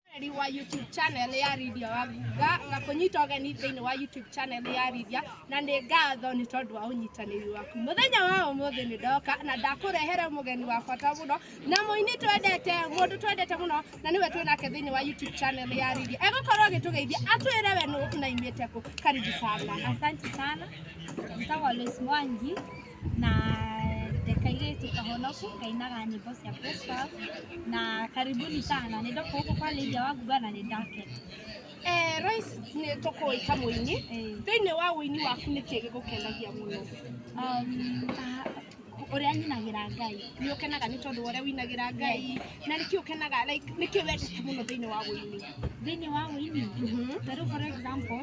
Mwaneri wa YouTube channel ya Lydia Waguga na kũnyita ũgeni thĩinĩ wa YouTube channel ya Lydia na nĩ ngatho nĩ tondũ wa ũnyitanĩri waku. Mũthenya wa ũmũthĩ nĩ ndoka na ndakũrehere mũgeni wa bata mũno na mũini twendete mũndũ twendete mũno na nĩwe twĩ nake thĩinĩ wa YouTube channel ya Lydia. Egũkorwo agĩtũgeithia atwĩre we nũ na imĩte kũ. Karibu sana. Asante sana. Nitawa Lois Mwangi. na ndekairĩtu kahonoku kainaga nyĩmbo cia gospel na karibuni sana nĩ ndoka gũkũ kwa Lydia wa Ngumba na nĩ ndakena Eh, Royce nĩ tũkũĩ ta mũini Eh, thĩinĩ wa ũini waku nĩ kĩĩ gĩgũkenagia mũno um, ah, ũrĩa nyinagĩra Ngai nĩ ũkenaga nĩ tondũ wa ũrĩa winagĩra ngai na nĩkĩ ũkenaga like nĩkĩ wendete mũno thĩinĩ wa ũini thĩinĩ wa ũini tarĩu for example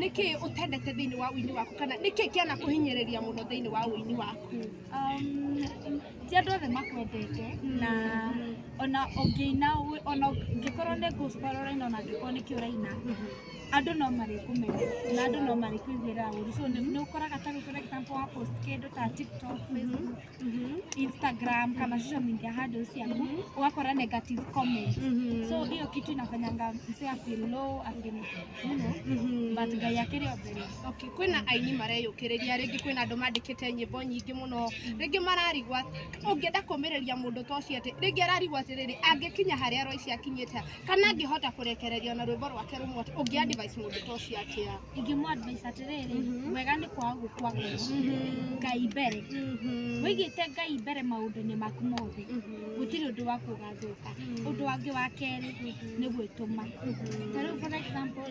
nĩkĩ ũtendete thĩinĩ wa ũini waku kana nĩkĩ kĩana kũhinyĩrĩria mũno thĩinĩ wa ũini waku Um, ti andũ othe makwendete na ona ũngĩina wĩ- ona ũngĩkorwo nĩ gospel ũraina ona angĩkorwo nĩkĩ ũraina andũ no marĩkũmenya na andũ no marĩkũiguĩra ũru so nĩ nĩ ũkoraga ta rĩu for example wa post kĩndũ ta tiktok facebook Mhm. Instagram kama social media handles yangu wakora negative comments Mhm. so hiyo kitu inafanyanga mse afeel low afeel you know Mhm. but guy yake ni obvious Okay, kwina aini mareyũkĩrĩria rĩngĩ kwĩna andũ mandĩkĩte nyĩmbo nyingĩ mũno rĩngĩ mararigwa ũngĩenda kũmĩrĩria mũndũ ta ũcio atĩ rĩngĩ ararigwa atĩrĩrĩ angĩkinya harĩa roici akinyĩte kana angĩhota kũrekereria na rwĩmbo rwake rũmwe ũngĩ advice mũndũ ta ũcio atĩa ingĩmũ advice atĩrĩrĩ Mhm. wega nĩ kwaga gũkua ngoro ngai mbere wĩigĩte ngai mbere maũndũ-inĩ maku mothe gũtirĩ ũndũ waku ũgathũka ũndũ wangĩ wa kerĩ nĩ gwĩtũma ta rĩu for example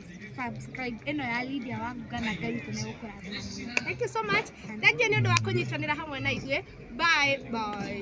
subscribe ĩno ya Lydia wa Nguga na Ngai witũ nĩ gũkũrathima mũno. Thank you so much. Thank you nĩ ũndũ wa kũnyitanĩra hamwe na ithuĩ. Bye bye.